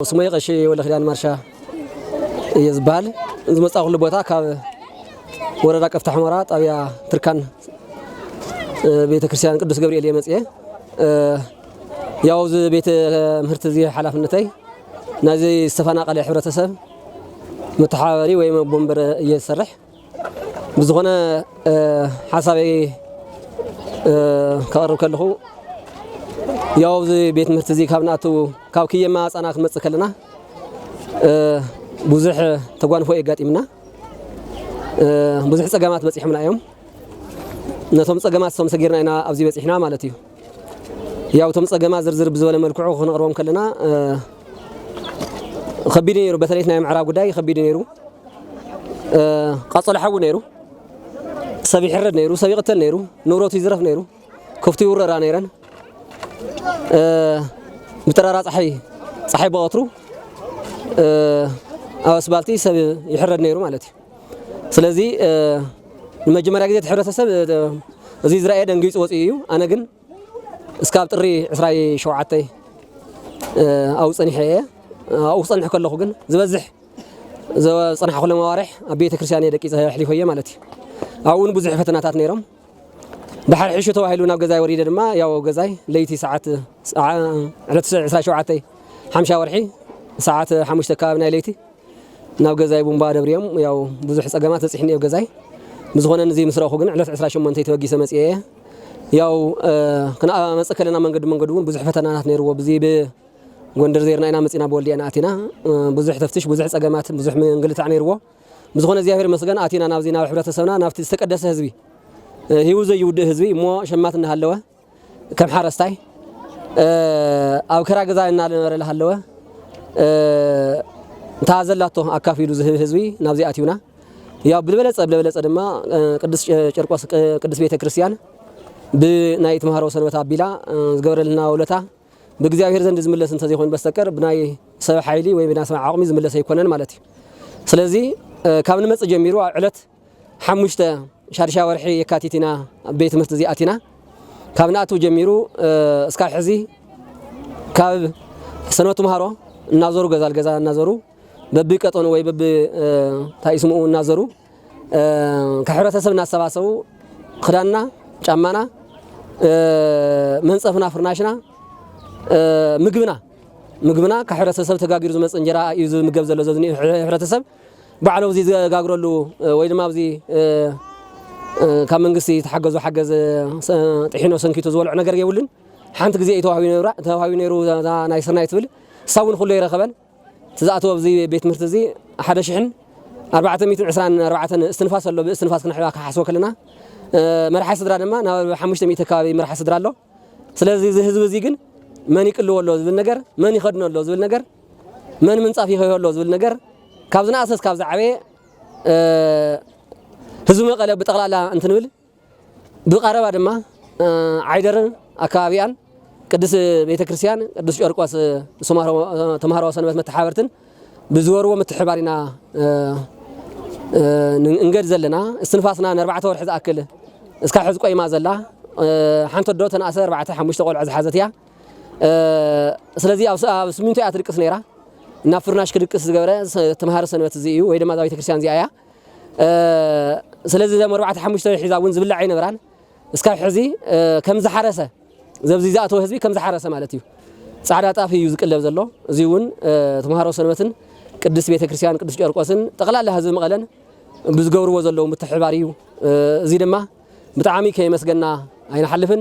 ስመይ ቐሺ ወልደኪዳን ማርሻ እየ ዝብሃል። ዝመፃእኹሉ ቦታ ካብ ወረዳ ቀፍታ ሑመራ ጣብያ ትርካን ቤተክርስትያን ቅዱስ ገብርኤል እየ መፅየ። ያው እዚ ቤተ ምህርቲ እዚ ሓላፍነተይ ናይዚ ዝተፈናቀለ ሕብረተሰብ መተሓባበሪ ወይ መቦንበረ እየ ዝሰርሕ። ብዝኾነ ሓሳበይ ከቕርብ ከለኹ ያው ኣብዚ ቤት ትምህርቲ እዚ ካብ ንኣትው ካብ ክየማ ኣፃና ክንመፅእ ከለና ብዙሕ ተጓንፎ የጋጢምና ብዙሕ ፀገማት በፂሖምና እዮም ነቶም ፀገማት ሰም ሰጊርና ኢና ኣብዚ በፂሕና ማለት እዩ ያው እቶም ፀገማት ዝርዝር ብዝበለ መልክዑ ክንቕርቦም ከለና ከቢድ ነይሩ። በተለይ ናይ ምዕራብ ጉዳይ ከቢድ ነይሩ። ቃፀሎ ሓዊ ነይሩ። ሰብ ይሕረድ ነይሩ፣ ሰብ ይቕተል ነይሩ፣ ንብረቱ ይዝረፍ ነይሩ፣ ከፍቱ ይውረራ ነይረን። ብጠራራ ፀሓይ ፀሓይ ብቐትሩ ኣብ ኣስባልቲ ሰብ ይሕረድ ነይሩ ማለት እዩ። ስለዚ ንመጀመርያ ግዜ እቲ ሕብረተሰብ እዚ ዝረኣየ ደንጊጹ ወጺኡ እዩ። ኣነ ግን እስካብ ጥሪ ዕስራይ ሸውዓተይ ኣብኡ ጸኒሐ እየ። ኣብኡ ክጸንሕ ከለኹ ግን ዝበዝሕ ዝጸናሕኩሎም ኣዋርሕ ኣብ ቤተ ክርስቲያን እየ ደቂጸ ኣሕሊፈዮ ማለት እዩ። ኣብኡ እውን ብዙሕ ፈተናታት ነይሮም። ድሓር ሕሹ ተባሂሉ ናብ ገዛይ ወሪደ ድማ ያው ገዛይ ለይቲ ሰዓት ዕለት ዕስራይ ሸውዓተይ ሓምሻ ወርሒ ሰዓት ሓሙሽተ ኣከባቢ ናይ ለይቲ ናብ ገዛይ ቡምባ ደብርዮም ያው ብዙሕ ጸገማት በጺሕኒ ኣብ ገዛይ ብዝኾነ ንዚ ምስ ረእኹ ግን ዕለት 28 ተበጊሰ መጽኤ እየ ያው ክንመጽእ ከለና መንገዲ መንገዲ እውን ብዙሕ ፈተናታት ነይርዎ ብዚ ጎንደር ዜርና ኢና መፂና ብወልዲያ ኢና ኣቲና ብዙሕ ተፍትሽ ብዙሕ ፀገማት ብዙሕ ምንግልታዕ ነይርዎ ብዝኾነ እግዚኣብሔር መስገን ኣቲና ናብዚ ናብ ሕብረተሰብና ናብቲ ዝተቀደሰ ህዝቢ ህይወት ዘይውድእ ህዝቢ እሞ ሸማት እናሃለወ ከም ሓረስታይ ኣብ ክራ ገዛ እናነበረ ዝሃለወ እንታ ዘላቶ ኣካፊሉ ዝህብ ህዝቢ ናብዚ ኣትዩና ያው ብልበለጸ ብልበለጸ ድማ ቅዱስ ጨርቆስ ቅዱስ ቤተ ክርስቲያን ብናይ ተምሃሮ ሰንበት ኣቢላ ዝገበረልና ውለታ ብእግዚኣብሔር ዘንድ ዝምለስ እንተዘይኮይኑ በስተቀር ብናይ ሰብ ሓይሊ ወይ ብናይ ሰብ ዓቕሚ ዝምለስ ኣይኮነን ማለት እዩ። ስለዚ ካብ ንመጽእ ጀሚሩ ኣብ ዕለት ሓሙሽተ፣ ሻድሻይ ወርሒ የካቲት ኢና ኣብ ቤት ትምህርቲ እዚ ኣቲና። ካብ ንኣቱ ጀሚሩ እስካብ ሕዚ ካብ ሰንበት ትምሃሮ እናዞሩ ገዛ ልገዛ እናዞሩ በቢ ቀጠኑ ወይ በቢ እንታይ ስምኡ እናዘሩ ካብ ሕብረተሰብ እናሰባሰቡ ክዳንና፣ ጫማና፣ መንፀፍና፣ ፍርናሽና፣ ምግብና ምግብና ካብ ሕብረተሰብ ተጋጊሩ ዝመፅ እንጀራ እዩ ዝምገብ ዘሎ እዚ ዝኒኦ ሕብረተሰብ። ባዕሎም እዚ ዝጋግረሉ ወይ ድማ ኣብዚ ካብ መንግስቲ ዝተሓገዞ ሓገዝ ጥሒኖ ሰንኪቱ ዝበልዖ ነገር የብሉን። ሓንቲ ግዜ እዩ ተዋሂቡ ነይሩ ተዋሂቡ ነይሩ እዛ ናይ ስርናይ ትብል እሳ እውን ኩሉ ኣይረኸበን። እቲ ዝኣተወ ኣብዚ ቤት ትምህርቲ እዚ ሓደ ሽሕን ኣርባዕተ ሚእትን ዕስራን ኣርባዕተን እስትንፋስ ኣሎ ብእስትንፋስ ክንሕባ ክሓስቦ ከለና መርሓ ስድራ ድማ ናብ ሓሙሽተ ሚእቲ ኣከባቢ መርሓ ስድራ ኣሎ። ስለዚ እዚ ህዝቢ እዚ ግን መን ይቅልዎ ኣሎ ዝብል ነገር፣ መን ይኸድኖ ኣሎ ዝብል ነገር፣ መን ምንጻፍ ይኸዮ ኣሎ ዝብል ነገር ካብ ዝነኣሰ እስካብ ዝዓበየ ህዝቢ መቐለ ብጠቕላላ እንትንብል ብቐረባ ድማ ዓይደርን ኣከባቢኣን ቅድስት ቤተክርስትያን ቅዱስ ጨርቆስ ተምሃሮ ሰንበት መተሓባበርትን ብዝበርዎ ምትሕብባር ኢና እንገድ ዘለና እስትንፋስና ንኣርባዕተ ወርሒ ዝኣክል እስካብ ሕዚ ቆይማ ዘላ ሓንቲ ኣዶ ተንኣሰ ኣርባዕተ ሓሙሽተ ቆልዑ ዝሓዘት እያ ስለዚ ኣብ ስሚንቶ እያ ትድቅስ ነይራ ናብ ፍርናሽ ክድቅስ ዝገብረ ተምሃሮ ሰንበት እዚ እዩ ወይ ድማ እዛ ቤተክርስትያን እዚኣ እያ ስለዚ ዘም ኣርባዕተ ሓሙሽተ ሒዛ እውን ዝብላዕ ኣይነበራን እስካብ ሕዚ ከም ዝሓረሰ ዘብዚ ዝኣተወ ህዝቢ ከም ዝሓረሰ ማለት እዩ። ጻዕዳ ጣፍ እዩ ዝቅለብ ዘሎ። እዚ እውን ተምሃሮ ሰንበትን ቅድስት ቤተ ክርስቲያን ቅዱስ ጨርቆስን ጠቕላላ ህዝቢ መቐለን ብዝገብርዎ ዘለዉ ምትሕብባር እዩ። እዚ ድማ ብጣዕሚ ከየመስገና ኣይንሓልፍን።